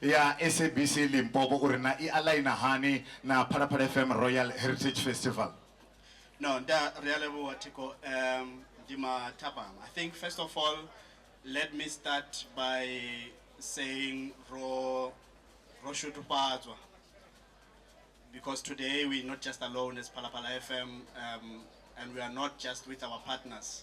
ya SABC Limpopo uri na i aligner hani na Phalaphala FM Royal Heritage Festival. No, nda ri a levhuwa Thiko um ndi mathabang. I think first of all let me start by saying ro ro shudufhadzwa because today we not just alone as Phalaphala FM um and we are not just with our partners.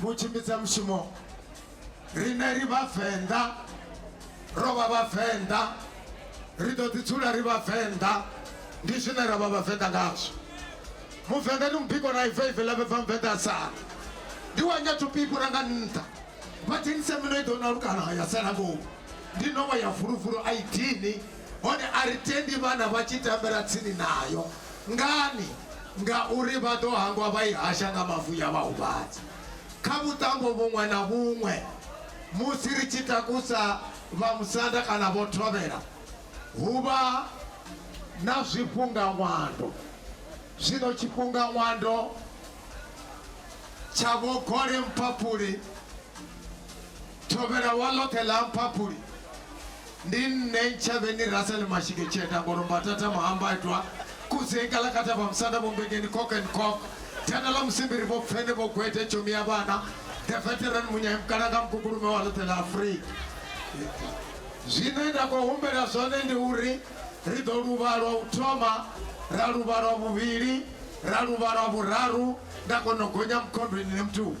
vhu tshimbidza mushumo rine ri vhavenḓa ro vha vhavenḓa ri ḓo ḓi dzula ri vhavenḓa ndi zwine ra vha vhavenḓa ngazwo muvenḓa ndi mubiko na ive ive lavhe bva muvenḓa a sala ndi wa nyatupikura nga nṱha vha dzhenise mino i ḓo na lukana ya sala ngomu ndi nowa ya fulufulu a i dini Hone a ri tendi vhana vha tshi tambela tsini nayo. Ngani? Ngauri vha ḓo hangwa vha i hasha nga mavu ya vha huvhadza. Kha vhuṱambo vhuṅwe na vhuṅwe, musi ri tshi takusa vhamusanda kana vho thovhela, hu vha na zwifhungaṅwando. Zwino tshifhungaṅwando tsha Vho Gole Mphaphuli, thovhela wa ḽoṱhe ḽa Mphaphuli, Ndi nṋe Ntshavheni Russell Mashike Tsheta Ngolombatata Mahambaitwa Kudzei Kalakata Vha Musanda Vho Mbengeni Cock and Cock Thanda ḽa Musimbiri Vho Pfene Vho Gwete Tshomi ya Vhana The Veteran Munyai Mukalanga Mukukulume Wa Ḽoṱhe Ḽa Afrika. Zwine nda khou humbela zwone ndi uri ri ḓo luvha lwa u thoma, ra luvha lwa vhuvhili, ra luvha lwa vhuraru nda kona u gonya mukhondweni ni mutuka.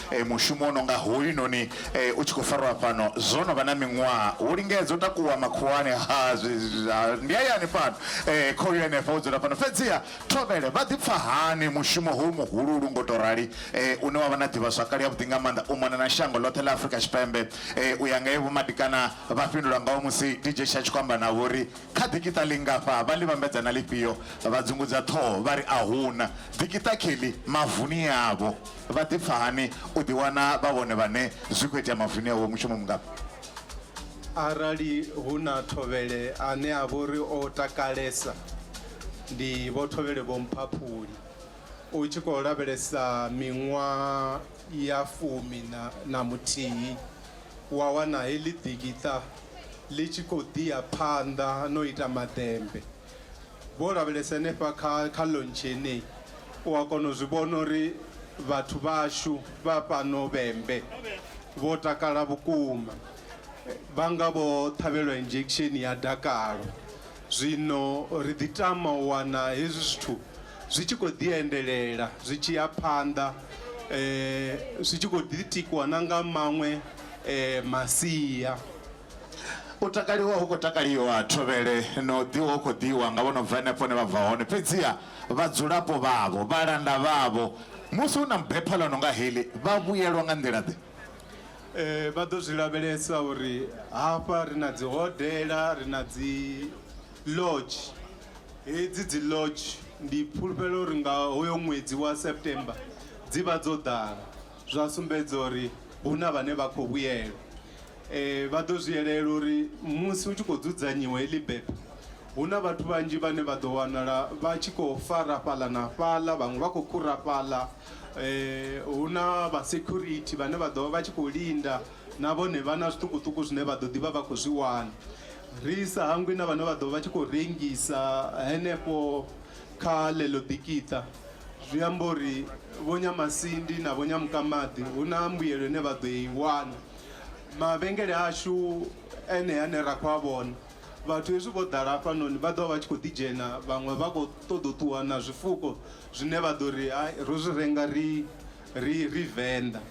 eh, mushumo o no nga hoyu noni eh, u tshi khou farwa fhano zwo no vha na miṅwaha wo lingedza u takuwa makhuwani ha zwi- zwi- ha- ndi hayani fhano eh, khoyu henefha wo dzula fhano fhedziha thovhele vha ḓipfa hani mushumo hoyu muhululu ngo to rali eh, une wa vha na ḓivhazwakale yavhuḓi nga maanḓa u mona na shango ḽoṱhe ḽa afurika tshipembe eh, u ya nga evo madikana vha fhindula ngawo musi dj sha tshi khou amba navho uri kha ḓikiṱa lingafha vha ḽi vhambedza na lifhio vha dzungudza ṱhoho vha ri a huna ḓikiṱa kheḽi mavuni yavho Vha ḓipfa hani u ḓiwana vha vhone vhane zwi khou itea mavuni avho? Mushumo mungafhi? Arali hu na thovhele ane a vha uri o takalesa ndi Vho Thovhele Vho Mphaphuli. U tshi khou lavhelesa miṅwaha ya fumi na na muthihi wa wana heḽi ḓikiṱa ḽi tshi khou ḓi ya phanḓa na u ita maḓembe. Vho lavhelesa henefha kha, kha lontshi yeneyi, u a kona u zwi vhona uri vhathu vhashu vha fhano vhembe vho takala vhukuma. Vha nga vho ṱhavhelwa injection ya dakalo. Zwino ri ḓi tama u wana hezwi zwithu zwi tshi khou ḓi endelela, zwi tshi ya phanḓa, zwi tshi khou ḓi tikwa na nga maṅwe masia. U takaliwa hu khou takaliwa thovhele na u ḓiwa hu khou ḓiwa nga vho no bva henefho hune vha bva hone. Fhedziha vhadzulapo vhavho, vhalanda vhavho, musi hu na bepha ḽo no nga heḽi, vha vhuyelwa nga nḓila-ḓe? Ee, vha ḓo zwi lavhelesa uri hafha ri na dzihodela, ri na dzi lodge. Hedzi dzi lodge ndi fhulufhela uri nga hoyo ṅwedzi wa September dzi vha dzo ḓala, zwa sumbedza uri hu na vhane vha khou vhuyelwa. Eh, vha ḓo zwi yelela uri musi hu tshi khou dzudzanyiwa heḽi bephe hu na vhathu vhanzhi vhane vha ḓo wanala vha tshi khou fara fhaḽa na fhaḽa vhaṅwe vha khou khura fhaḽa eh, hu na vha security vhane vha ḓo vha vha tshi khou linda na vhone vha na zwiṱukuṱuku zwine vha ḓo ḓivha vha khou zwi wana ri sa hangwi na vhane vha ḓo vha tshi khou rengisa henefho kha ḽeḽo ḓikiṱa zwi amba uri vho nyamasindi na vho nyamukamaḓi hu na mbuyelo ine vha ḓo i wana mavhengele ashu enea ane ra khou a vhona vhathu hezwi vho ḓala hafhanoni vha ḓovha vha tshi khou ḓi dzhena vhaṅwe vha khou ṱoḓa u ṱuwa na zwifuko zwine vha ḓo ri hai ro zwi renga ri ri ri venḓa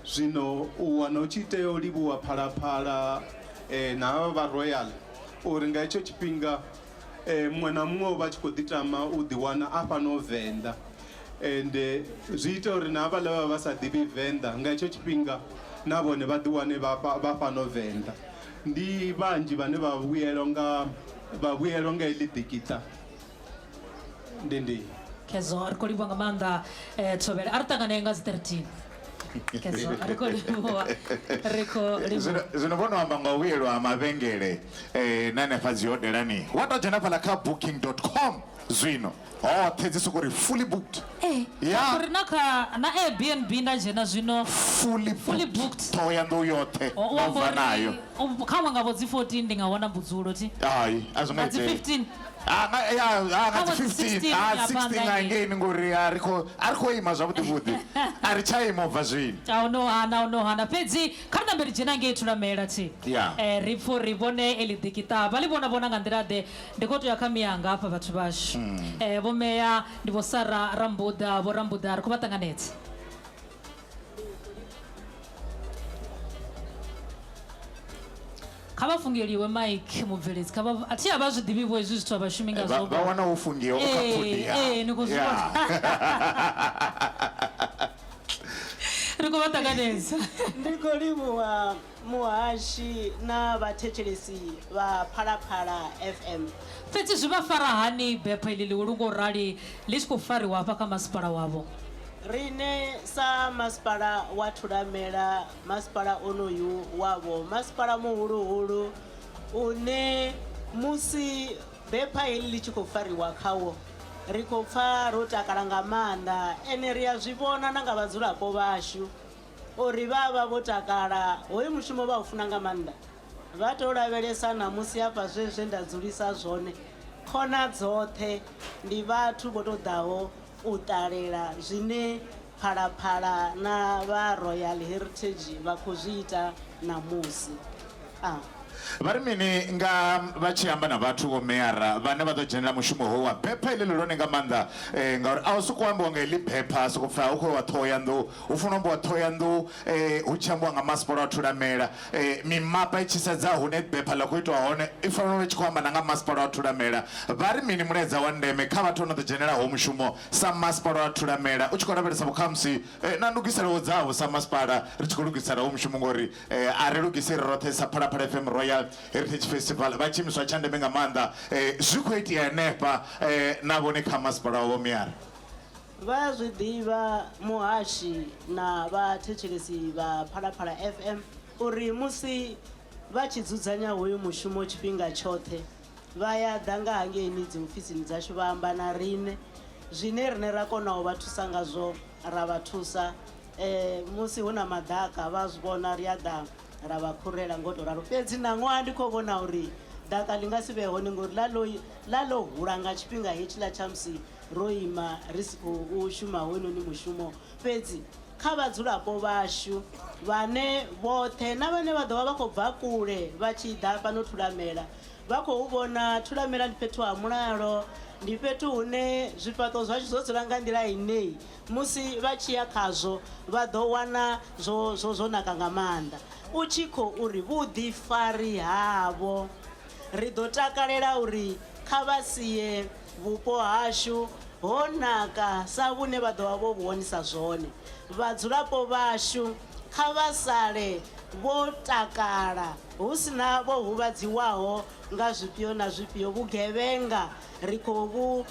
zwino u wana u tshi tea u livhuwa phalaphala eh, na havha vha royal uri nga hetsho tshifhinga eh, muṅwe na muṅwe o vha tshi khou ḓi tama u ḓiwana a fhano venḓa and zwi ita uri na havhaḽa vha vha sa ḓivhi venḓa nga hetsho tshifhinga na vhone vha ḓiwane vha fhano venḓa ndi vhanzhi vhane vha vhuyelwa nga vha vhuyelwa nga heḽi ḓikiṱa ndi ndi kezo ri khou livhuwa nga maanḓa eh, thovhele a ri ṱanganee nga dzi 13 kezo ri khou livhuwa ri khou livhuwa zwino vho no amba nga u vhuyelwa ha mavhengele um na hanefha dzi hodelani wa tou dzhena fhala kha booking com zwino hoṱhe dzi soko ri fully booked eh, yeah. ri na kha na airbnb nda dzhena zwino fully booked, fully booked. ṱhohoyanḓou yoṱhe ndo bva nayo kha ṅwe nga vho dzi 14 ndi nga wana mbudzulo thi hai a zwi nga dzi 15 ah, ah, ya ah, nga dzi 15 a 16 nga ngei ni ngori a ri kho a ri kho ima zwavhuḓi vhuḓi a ri tsha ima ubva zwino a u no hana u no hana fhedzi kha ri nambeli dzhena ngei thulamela thi eh ri pfo ri vhone eli ḓikiṱa vha ḽi vhona vhona nga nḓila ḓe Ndi khou tou ya kha mianga hafha vhathu vhashu. Ee, Vho Meya ndi Vho Sara Rambuḓa, Vho Rambuḓa ri khou vha ṱanganedza. Kha vha fungeliwe maiki mubveledzi kha vha a thi a vha zwi ḓivhi vho hezwi zwithu a vha shumi nga zwo vha wana wo fungiwa u kha pfudi ya ee ni khou zwi vhona ri khou vha ṱanganedza ndi khou livhuwa Muhashi na vhathetshelesi vha Phalaphala FM. Fhedzi zwi vha fara hani bepha iḽi ḽihulu nga u rali ḽi tshi khou fariwa hafha kha masipala wavho? Riṋe sa Masipala wa Thulamela, masipala onoyu wavho masipala muhuluhulu une musi bepha heḽi ḽi tshi khou fariwa khawo ri khou pfa ro takala nga maanḓa ende ri a zwi vhona na nga vhadzulapo vhashu. O ri vha vha vho takala. Hoyu mushumo vha u funa nga maanḓa. Vha tou lavhelesa ṋamusi hafha zwe zwe nda dzulisa zwone. Khona dzoṱhe ndi vhathu vho tou ḓaho u ṱalela zwine Phalaphala na vha Royal Heritage vha khou zwi ita ṋamusi. Vha ri mini nga vha tshi amba na vhathu, vho meara, vhane vha ḓo dzhenela mushumo hoyu wa bepha iḽi ḽihulwane nga maanḓa? Ee, ngauri a hu sokou ambiwa nga heḽi bepha ha sokou pfhi hu khou iwa Ṱhohoyanḓou. Hu fanela u ambiwa Ṱhohoyanḓou hu tshi ambiwa nga masipala wa Thulamela. Mimapa i tshi sedza hune bepha ḽa khou itwa hone i fanela u vha i tshi khou amba na nga masipala wa Thulamela. Vha ri mini mulaedza wa ndeme kha vhathu vha no ḓo dzhenela hoyu mushumo sa masipala wa Thulamela u tshi khou lavhelesa vhukhamusi na ndugiselo dzavho sa masipala ri tshi khou lugisela hoyu mushumo? Ngori Eh, a ri lugise ri roṱhe sa phalaphala fm royal heritage festival vha tshiimiswa tsha ndeme nga maanḓa eh, zwi khou itea henefha eh, na vhone kha masipala wavho miara vha a zwi ḓivha muhashi na vhathetshelesi vha phalaphala fm uri musi vha tshi dzudzanya hoyu mushumo tshifhinga tshoṱhe vha ya ḓa nga hangeini dziofisini dzashu vha amba na riṋe zwine riṋe ra kona u vha thusa ngazwo ra vha thusa musi hu na maḓaka vha zwi vhona ri a ḓa ra vha khurela ngo to ralo fhedzi ṋaṅwaha ndi khou vhona uri ḓaka ḽi nga si vhe hone ngori ḽa ḽo ḽa ḽo hula nga tshifhinga hetshiḽa tsha musi ro ima ri si khou shuma hoyunoni mushumo fhedzi kha vhadzulapo vhashu vhane vhoṱhe na vhane vha ḓo vha vha khou bva kule vha tshi ḓa fhano thulamela vha khou vhona Thulamela ndi fhethu ha mulalo, ndi fhethu hune zwifhaṱo zwashu zwo dzula nga nḓila ine musi vha tshi ya khazwo vha ḓo wana zwo, zwo, zwo naka nga maanḓa. U tshi khou ri, Vhuḓifari havho. Ri ḓo takalela uri kha vha sie vhupo hashu ho naka sa vhune vha ḓo vha vho vhu wonisa zwone. Vhadzulapo vhashu kha vha sale vho takala. Hu si na vho huvhadziwaho nga zwifhio na zwifhio, vhugevhenga ri khou vhu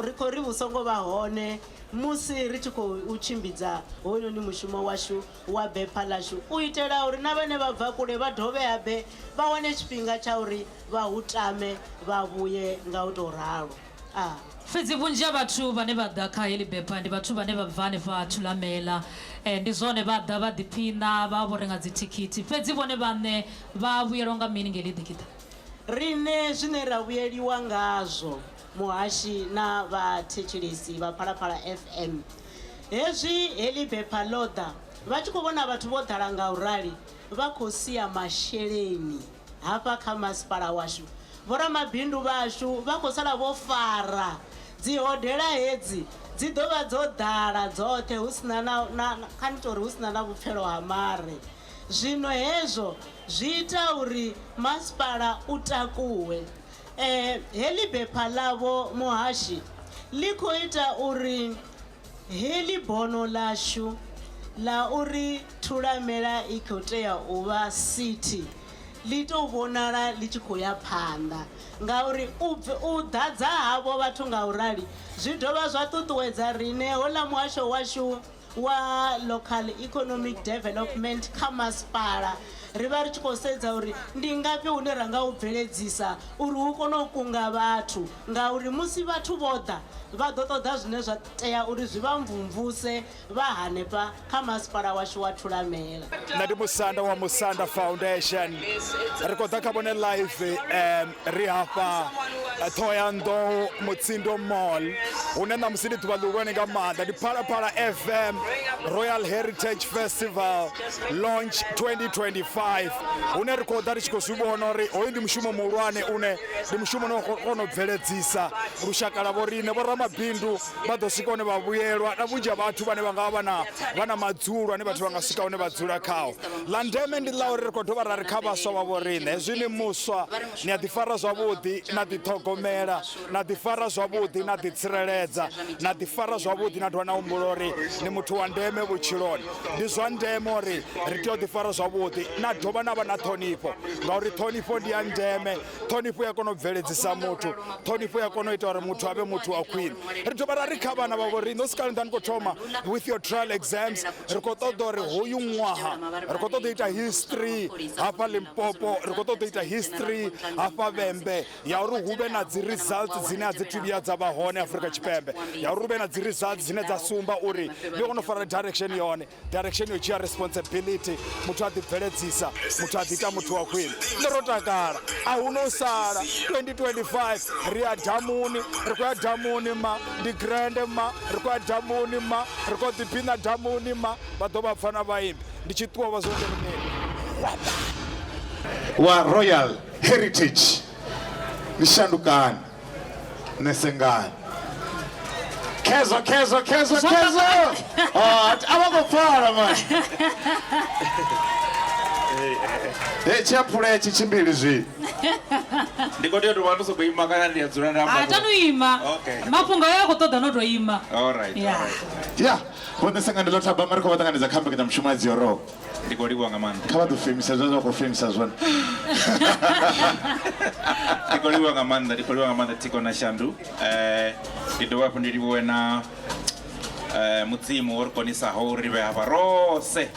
ri khou ri vhu songo vha hone musi ri tshi khou tshimbidza hoyunoni mushumo washu wa bepfa ḽashu u itela uri na vhane vha bva kule vha dovhe habe vha wane tshifhinga tsha uri vha hu tame vha vhuye nga u tou ralo. A. Fhedzi vhunzhi ha vhathu vhane vha ḓa kha heḽi bepha ndi vhathu vhane vha bva hanefha Thulamela. Ee, ndi zwone, vha ḓa vha ḓiphiṋa, vha vha vho renga dzithikhithi. Fhedzi vhone vhaṋe vha vhuyelwa nga mini nga heḽi ḓikiṱa? Riṋe zwine ra vhuyeliwa ngazwo, muhashi na vhathetshelesi vha Phalaphala FM, hezwi heḽi bepha ḽo ḓa, vha tshi khou vhona vhathu vho ḓala nga u rali, vha khou sia masheleni. Hafha kha masipala washu, vhoramabindu vhashu vha khou sala vho fara. Dzihodela hedzi dzi ḓo vha dzo ḓala dzoṱhe hu si na na, na, kha ni tou ri hu si na na vhupfelo ha mare. Zwino hezwo zwi ita uri masipala u takuwe. E, heḽi bepha ḽa vho muhashi ḽi khou ita uri Heḽi bono ḽashu ḽa uri Thulamela i khou tea u vha sithi ḽi tou vhonala ḽi tshi khou ya phanḓa ngauri u u ḓadza havho vhathu nga u rali zwi dovha zwa ṱuṱuwedza riṋe hoḽa muhasho washu wa Local Economic Development kha masipala ri vha ri tshi khou sedza uri ndi ngafhi hune ra nga u bveledzisa uri hu kone u kunga vhathu. Ngauri musi vhathu vho ḓa, vha ḓo ṱoḓa zwine zwa tea uri zwi vha mvumvuse vha hanefha kha Masipala washu wa Thulamela. Nṋe ndi musanda wa Musanda Foundation. Ri khou ḓa kha vhone live ri hafha Ṱhohoyanḓou Mutsindo Mall hune ṋamusi ndi ḓuvha ḽihulwane nga maanḓa. Ndi Phalaphala FM Royal Heritage Festival Launch 2025 hune ri khou ḓa ri tshi khou zwi vhona uri hoyu ndi mushumo muhulwane une ndi mushumo une wa khou kona u bveledzisa lushaka lwa vhoriṋe vhoramabindu vha ḓo swika hune vha vhuyelwa na vhunzhi ha vhathu vhane vha nga vha vha na vha na madzulo ane vhathu vha nga swika hune vha dzula khao ḽa ndeme ndi ḽa uri ri khou dovha ra ri kha vhaswa vha vhoriṋe hezwi ni muswa ni a ḓifara zwavhuḓi na ḓiṱhogomela na ḓifara zwavhuḓi na ḓitsireledza na ḓifara zwavhuḓi na dovha na humbula uri ni muthu wa ndeme vhutshiloni ndi zwa ndeme uri ri tea u ḓifara zwavhuḓi na dovha na vha na ṱhonifho ngauri ṱhonifho ndi ya ndeme ṱhonifho ya kona u bveledzisa muthu ṱhonifho ya kona u ita uri muthu avhe muthu wa khwine ri dovha ra ri kha vhana vha vho riṋe u sikale nda ni khou thoma with your trial exams ri khou ṱoḓa uri hoyu ṅwaha ri khou ṱoḓa u ita history hafha limpopo ri khou ṱoḓa u ita history hafha vhembe ya uri hu vhe na dzi results dzine a dzi thu vhuya dza vha hone afurika tshipembe ya uri hu vhe na dzi results dzine dza sumba uri ndi kone u fara direction yone direction yo dzhia responsibility muthu a ḓibveledzisa muthu a ḓiita muthu wa khwine nṋe ro takala a hu no sala 2025 ri ya damuni ri khou ya damuni ma ndi grande ma ri khou ya damuni ma ri khou ḓiphina damuni ma vha ḓo vha pfana vhaimbi ndi tshi ṱuwa vha zwo wa royal heritage ni shandukani ne sengani kezo kezo kezo Zwa kezo Ah, a vha khou pfala mani e tshiaphula etshi tshimbili zwino ndi khou tea u tou vha ndo sokou ima kana ndi a dzula nda amba atanu ima Okay. mafhungo ayo a khou ṱoḓa no tou ima Alright, Yeah. alright. ya vhone sengani ḽo thabama ri khou vha ṱanganedza kha mbekanyamushumo ya dziorobo ndi khou livhuwa nga maanḓa kha vha ḓo femisa zwine zwa khou femisa zwone ndi khou livhuwa nga maanḓa ndi khou livhuwa nga maanḓa thiko na shandu um ndi dovha hafhu ndi livhuwe na um mudzimu wo ri konisaho uri ri vhe hafha rose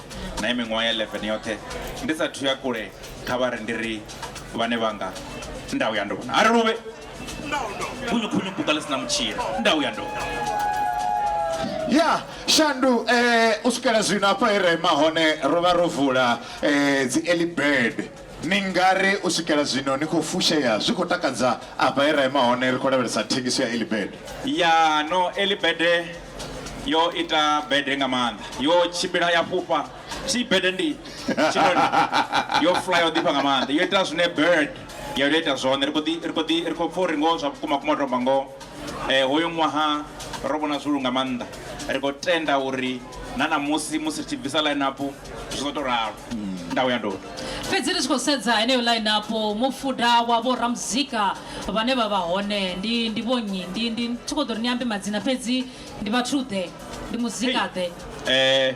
na i miṅwaha ya 11 yoṱhe ndi sathu ya kule kha vha ri ndi ri vhane vhanga nda u ya ndovhona a ri luvhe khunyu buka ḽi sina mutshila ndau ya ndoka ya shandu eh, u swikela zwino hafha he ra ima hone ro vha ro vula eh, dzi early bird ni ngari u swikela zwino ni khou fushea zwi khou takadza afha he ra ima hone ri khou lavhelesa thengiso ya early bird ya no early bird yo ita bede nga maanḓa yo tshimbila ya fhufha si bede ndi tshinoni yo fly yo ḓifha nga maanḓa yo ita zwine bird ya yo ita zwone ri khou ḓi ri khou ḓi ri khou pfha uri ngoho zwa vhukuma kuma tomba ngoho eh hoyo ṅwaha ro vhona zwihulu nga maanḓa ri khou tenda uri na ṋamusi musi ri tshi bvisa line up zwi ḓo tou ralo nda uya ndoni fhedzi ri tshi khou sedza heneyo line up mufuda wa vho ramuzika vhane vha vha hone ndi ndi vho nnyi ndi ndi thi khou ḓo ri ni ambe madzina fhedzi ndi vhathu ḓe ndi muzika ḓe eh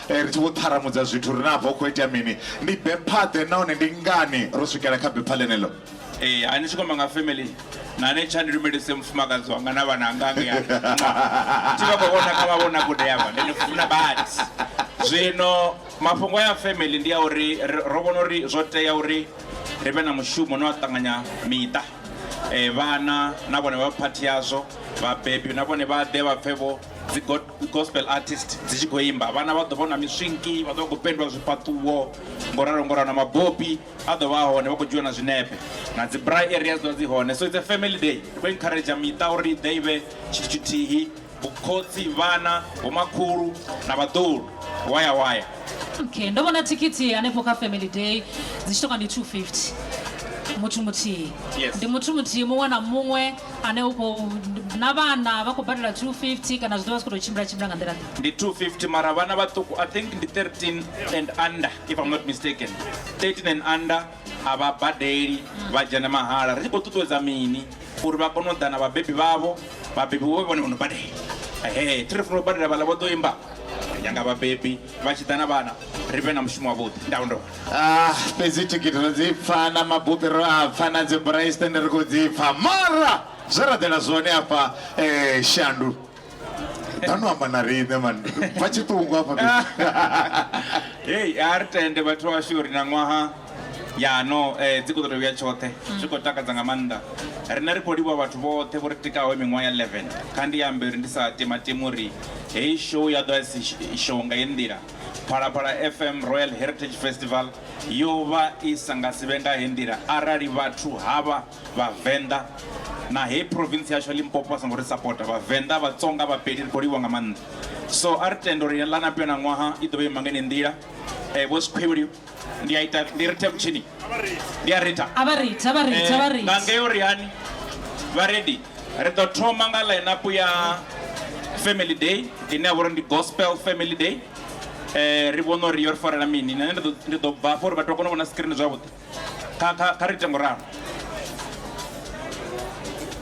Ri tshi vho ṱharamudza zwithu ri na hafha hu khou itea mini, ndi bepha-ḓe nahone ndi ngani ro swikela kha bepha ḽeneḽo? Ee, ha ni tshi kwama nga family na ni tsha ni lumelise mufumakadzi wanga na vhananga ngei ha nwa thi vha khou vhona kha mavhonakule avha ndi ni funa badi. Zwino mafhungo aya a family ndi a uri ro vhona uri zwo tea uri ri vhe na mushumo une wa ṱanganya miṱa, vhana na vhone vha vhe phathi yazwo, vhabebi na vhone vha ḓe vha pfhe vho dzi got. dzi gospel artist dzi tshi khou imba vhana vha ḓo vha na miswinki vha ḓo vha khou pendwa zwifhaṱuwo ngo ralo ngo ralo na mabopi a ḓo vha a hone vha khou dzhiwa na zwinepe na dzi bra area dzi ḓo vha dzi hone so it's a family day khou encourager miṱa uri ḓe ivhe tshithu tshithihi vhukhotsi vhana vhomakhulu na vhaḓulu waya waya okay ndo vhona thikhithi hanefho kha family day dzi tshi toka ndi 250 muthu muthihi yes. ndi muthu muthihi muṅwe na muṅwe ane u khou na vhana vha khou badela 250 kana zwi ḓo vha zwi khou tou tshimbila tshimbila nga nḓila ḓe ndi 250 mara vhana vhaṱuku i think ndi 13 and under if i'm not mistaken 13 and under a vha badeli vha dzhena mahala ri tshi khou ṱuṱuwedza mini uri vha kone u ḓa na vhabebi vhavho vhabebi vho vhone vho no badela ehe thi ri funa u badela vhala vho ḓo imba ri nyanga vhabebi vha tshi ḓa na vhana ri vhe na mushumo wavhuḓi nda ondola ah fhedzi thikhithi ro dzi pfa na mabupi ro a pfa na dzi braistende ri khou dzi pfa mara zwe ra ḓela zwone afha um shandu danu amba na riṋe man bva tshiṱungu afha hei a ri tende vhathu washu uri na ṅwaha Ya no eh, dzi khou ḓo tou vhuya tshoṱhe zwi khou takadza nga maanḓa riṋe ri khou livhuwa vhathu vhoṱhe vho ri tikaho miṅwaha ya 11 kha ndi ambe uri ndi sa timatimi uri heyi show ya ḓo asi show nga heyi nḓila phalaphala fm royal heritage festival yo vha i sa nga si vhe nga heyi nḓila arali vhathu havha vhavenḓa na heyi province yashu ya limpopo vha songo ri sapota vhavenḓa vhatsonga vhapedi ri khou livhuwa nga maanḓa so a ri tende uri ḽa na pena ṅwaha i ḓo vha ima nga heneyi nḓila eh, vho sikhwevheli ndi a ita ndi rithe mutshini ndi a ritha a vha ritha vha ritha vha ritha nga ngeo ri hani vha ready ri ḓo thoma nga line up ya family day ine ya vha uri ndi gospel family day eh ri vhona uri yo ri farela mini nṋe ndi ḓo- ndi ḓo bva afho uri vhathu vha kone u vhona screen zwavhuḓi kha kha kha ri ite nguralo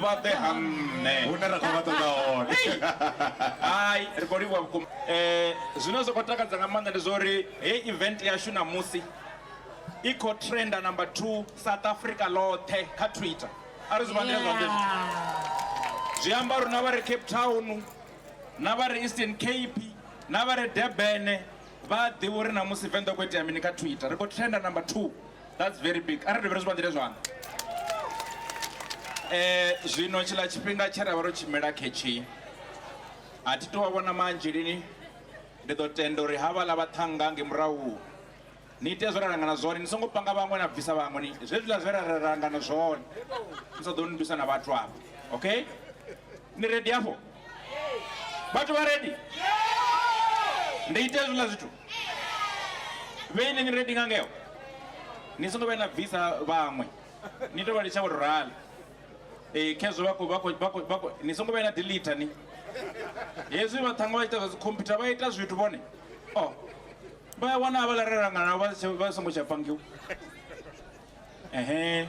vha ḓe ha nṋe hune ra khou vha ṱoḓa hone hai ri khou livhuwa vhukuma um zwine zwa khou takadza nga maanḓa ndi zwa uri hei event yashu ṋamusi i khou trenda number two south africa ḽoṱhe kha twitter a ri zwi vha nḓila zwanḓe zwithu zwi amba uri na vha re cape town na vha re eastern cape na vha re debene vha a ḓivha uri ṋamusi venḓa khou itea mini kha twitter ri khou trenda number two That's very big. Arali dovhe ri zwi vhaḓele zwanḓa. Eh zwino tshiḽa tshifhinga tshe ra vha ro tshimela khetshi a thi tou vhona manzhi lini ndi ḓo tenda uri ha vhala vhaṱhanga nge murahu ni ite zwe ra langana zwone ni songo panga vhaṅwe na bvisa vhaṅwe ni zwezwiḽa zwe ra langana zwone ni sa ḓo ni bvisa na vhathu afho okay ni redi afho vhathu vha redi ndi ite hezwiḽa zwithu vheine ni ready nga ngeo ni songo vhuya na bvisa vhaṅwe ni tou vha litsha vho tou rala ee khezwo vha khou vha khou vha khou vha khou ni songo vhuya na delete ni hezwi vha ṱhanga vha ita zwa dzi computer vha ita zwithu vhone o vha ya wana havhala re langana vha tshe- vha songo tsha pangiwa ehe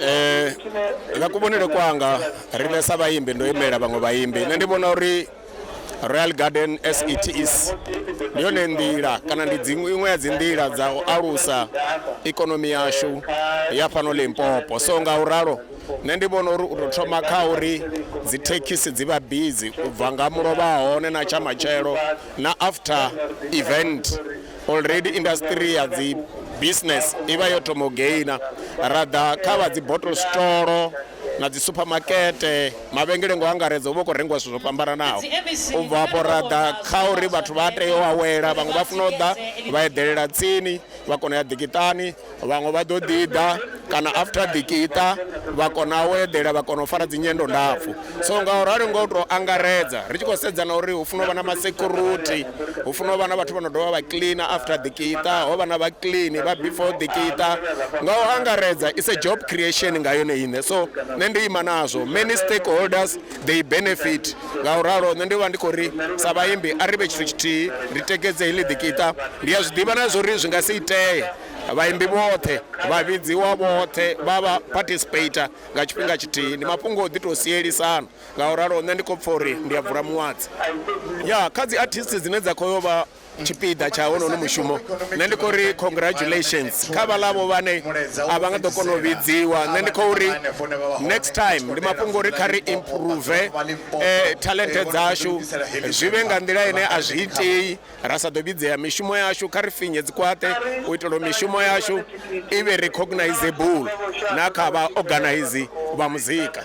Eh, nga kuvhonele kwanga riṋe sa vhaimbi ndo imela vhaṅwe vhaimbi nṋe ndi vhona uri royal garden as it is ndi yone nḓila kana ndi dziṅwe iṅwe ya dzi nḓila dza u alusa ikonomi yashu ya fhano limpopo so nga u ralo nṋe ndi vhona uri u tou thoma kha uri dzi thekhisi dzi vha bizi u bva nga mulovha hone na tsha matshelo na after event already industry ya dzi business i vha yo thoma u gaina ra ḓa kha vha dzi bottle store na dzi supermakete mavhengele ngo angaredza u vha u khou rengiwa zwithu zwo fhambananaho u bva afho ra ḓa kha uri vhathu vha tea u awela vhaṅwe vha funa u ḓa vha eḓelela tsini vha kona u ya ḓikiṱani Vhaṅwe vha ḓo ḓiḓa kana after ḓikiṱa vha kona u eḓela vha kona u fara dzinyendo ndapfu so nga u rali nga u tou angaredza ri tshi khou sedza na uri hu funa u vha na masecurity hu funa u vha na vhathu vha no dovha vha cleaner after ḓikiṱa ho vha na vha clean vha before ḓikiṱa nga u angaredza is a job creation nga yone iṋe so nṋe ndi ima nazwo many stakeholders they benefit nga u ralo nṋe ndi vha ndi khou ri sa vhaimbi a ri vhe tshithu tshithihi ri tekedze heḽi ḓikiṱa ndi a zwi ḓivha na zwa uri zwi nga si itee vhaimbi vhoṱhe vha vhidziwa vhoṱhe vha vha participator nga tshifhinga tshithihi ndi mafhungo o ḓi tou sielisana nga u ralo nṋe ndi khou pfha uri ndi a bvula muwadzi ya kha dzi artist dzine dza khou yo vha tshipiḓa tsha honono mushumo nṋe ndi khou ri congratulations kha vhaḽavho vhane a vha nga ḓo kona u vhidziwa nṋe ndi khou ri next time ndi mafhungo uri kha ri improve eh, talente dzashu zwi vhe nga nḓila ine a zwi itei ra sa ḓo vhidzea mishumo yashu kha ri finye dzikwate u itela mishumo yashu i vhe recognizable na kha vha organize vha muzika